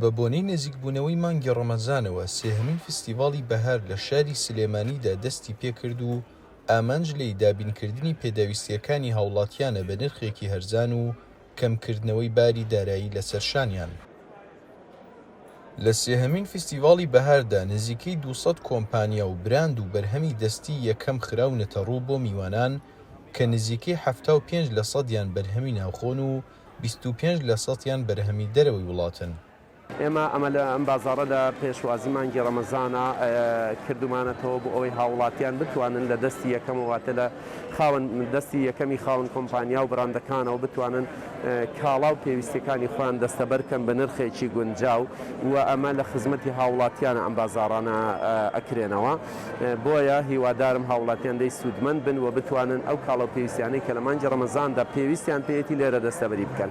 بە بۆنەی نزیکبوونەوەی مانگی ڕەمەزانەوە سێهەمین فستیڤاڵی بەهار لە شاری سلێمانیدا دەستی پێکرد و ئامانج لێی دابینکردنی پێداویستییەکانی هاوڵاتیانە بە نرخێکی هەرزان و کەمکردنەوەی باری دارایی لەسەر شانیان. لە سێهەمین فستیڤاڵی بەهاردا نزیکەی دوو سەد کۆمپانیا و براند و بەرهەمی دەستی یەکەم خراونەتەڕوو بۆ میوانان کە نزیکەی حەفتا و پێنج لە سەدیان بەرهەمی ناوخۆن و بیست و پێنج لە سەتیان بەرهەمی دەرەوەی وڵاتن. ئێمە ئەمە لە ئەم بازاڕە لە پێشوازی مانگی ڕەمەزانا کردومانەتەوە بۆ ئەوەی هاووڵاتیان بتوانن لە دەستی یەکەمەوە واتە لە خاوەن دەستی یەکەمی خاوەن کۆمپانیا و بڕاندەکانەوە بتوانن کاڵا و پێویستیەکانی خۆیان دەستەبەر بکەن بە نرخێکی گونجاو و ئەمە لە خزمەتی هاووڵاتیانە ئەم بازاڕانە ئەکرێنەوە. بۆیە هیوادارم هاوڵاتیان لێی سوودمەند بن و بتوانن ئەو کاڵا و پێویستیانەی کە لە مانگی ڕەمەزاندا پێویستیان پێیەتی لێرە دەستەبەری بکەن.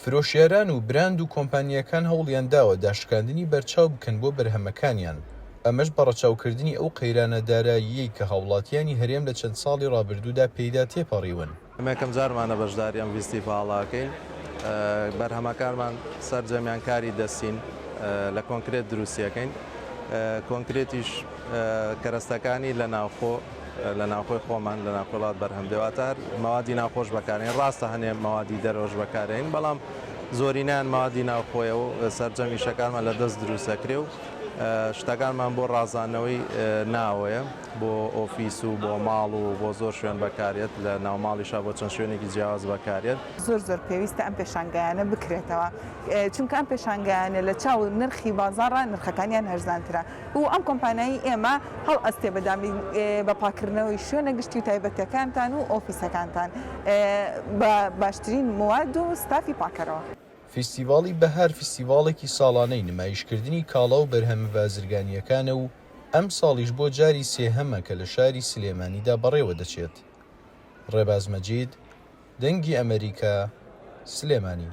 فرۆشیاران و براند و کۆمپانیاکان هەوڵیان داوە داشکاندنی بەرچاو بکەن بۆ بەرهەمەکانیان، ئەمەش بە ڕەچاوکردنی ئەو قەیرانە داراییەی کە هاوڵاتیانی هەرێم لە چەند ساڵی ڕابردوودا پێیدا تێپەڕیون. ئێمە یەکەم جارمانە بەشداری ئەم ڤیستیڤاڵەکەین، بەرهەمەکانمان سەرجەمیان کاری دەستین لە کۆنکرێت دروستیەکەین، کۆنکرێتیش کەرەستەکانی لە ناوخۆ لە ناوخۆی خۆمان لە ناوخۆی وڵات بەرهەم دێ واتە هەر مەوادی ناوخۆش بەکارین ڕاستە هەنێ مەوادی دەرەوەش بەکارێین بەڵام زۆرینەیان مەوادی ناوخۆیە و سەرجەم ئیشەکانمان لە دەست دروستەکرێ و شتەکانمان بۆ ڕازانەوەی ناوەیە. بۆ ئۆفیس و بۆ ماڵ و بۆ زۆر شوێن بەکاریەت لە ناوماڵیشا بۆ چەند شوێنێکی جیاواز بەکاریەت. زۆر زۆر پێویستە ئەم پێشانگایانە بکرێتەوە چونکە ئەم پێشانگایانە لە چاو نرخی بازاڕا نرخەکانیان هەرزانترە و ئەم کۆمپانایی ئێمە هەڵئەستێ بە دابین بە پاکردنەوەی شوێنە گشتی و تایبەتەکانتان و ئۆفیسەکانتان بە باشترین مواد و ستافی پاکەرەوە. فیستیڤاڵی بەهار فیستیڤاڵێکی ساڵانەی نمایشکردنی کاڵا و بەرهەمە بازرگانییەکانە و ئەمساڵیش بۆ جاری سێهەمە کە لە شاری سلێمانیدا بەڕێوە دەچێت. ڕێباز مەجید، دەنگی ئەمەریکا، سلێمانی.